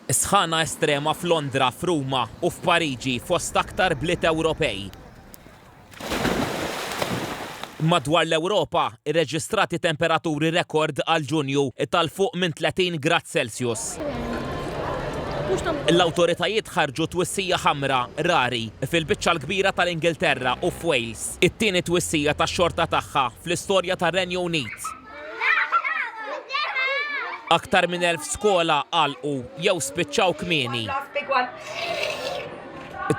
Sħana estrema f'Londra, f'Ruma u f'Pariġi fost aktar bliet Ewropej. Madwar l-Ewropa, irreġistrati temperaturi rekord għal Ġunju ta' 'l fuq minn 30 grad Celsius. L-awtoritajiet ħarġu twissija ħamra, rari, fil-biċċa l-kbira tal-Ingilterra u f'Wales, it-tieni twissija tax-xorta tagħha fl-istorja tar-Renju Unit. Aktar minn elf skola għalqu jew spiċċaw kmieni.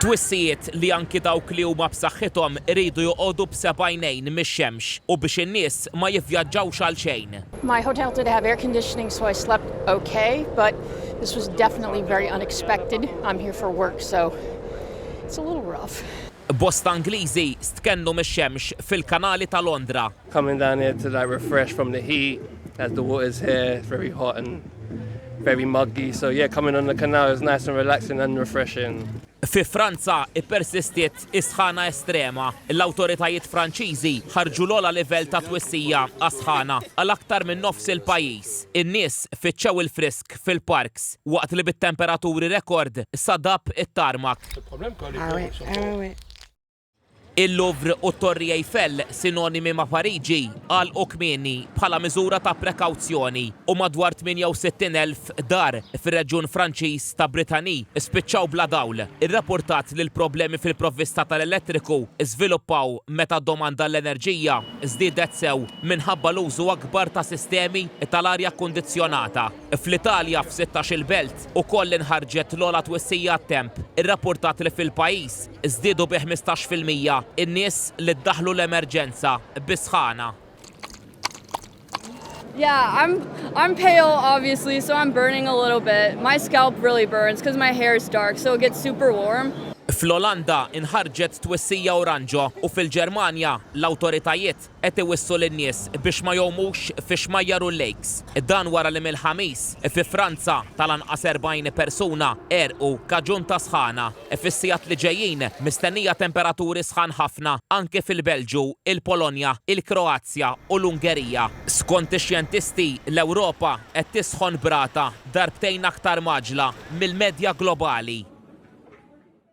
Twissijiet li anki dawk li huma b'saħħithom iridu joqogħdu b'seba' għajnejn mix-xemx u biex in-nies ma jivvjaġġawx għalxejn. My hotel did have air conditioning so I slept ok but this was definitely very unexpected. I'm here for work so it's a little rough. Bosta Ingliżi stkennu mix-xemx fil-kanali ta' Londra. Coming down here to like refresh from the heat as the water's here it's very hot and very muggy so yeah coming on the canal is nice and relaxing and refreshing. Fi Franza ppersistiet is-sħana estrema. L-awtoritajiet Franċiżi ħarġu l-ogħla livell ta' twissija għas-sħana għal aktar minn nofs il-pajjiż. In-nies fittxew il-frisk. fil-park fil-parks waqt li bit-temperaturi rekord sadab it-tarmak. Il-Louvre u t-Torri Eiffel, sinonimi ma' Pariġi, għalqu kmieni bħala miżura ta' prekawzjoni u madwar 68,000 dar fir-reġjun Franċiż ta' Brittany spiċċaw bla dawl. Irrapurtat li l-problemi fil-provvista tal-elettriku żviluppaw meta d-domanda għall-enerġija żdiedet sew minħabba l-użu akbar ta' sistemi tal-arja kkundizzjonata. Fl-Italja, f'sittax-il belt, ukoll inħarġet l-ogħla twissija għat-temp. Irrappurtat li fil-pajjiż żdiedu bi ħmistax fil-mija n-nies li ddaħħlu l-emerġenza bis-sħana. Yeah, I'm I'm pale obviously, so I'm burning a little bit. My scalp really burns because my hair is dark, so it gets super warm. Fl-Olanda nħarġet twissija oranġo u fil-Ġermanja l-awtoritajiet qed iwissu lin-nies biex ma jgħumux fix-xmajjar u l-lakes. Dan wara li mill-Ħamis, fi Franza tal-anqas 40 persuna għerqu kaġun ta' sħana. Fis-sigħat li ġejjin mistennija temperaturi sħan ħafna anke fil-Belġju, il-Polonja, il-Kroazja u l-Ungerija. Skont ix-xjentisti, l-Ewropa qed tisħon b'rata darbtejn aktar mgħaġġla mill-medja globali.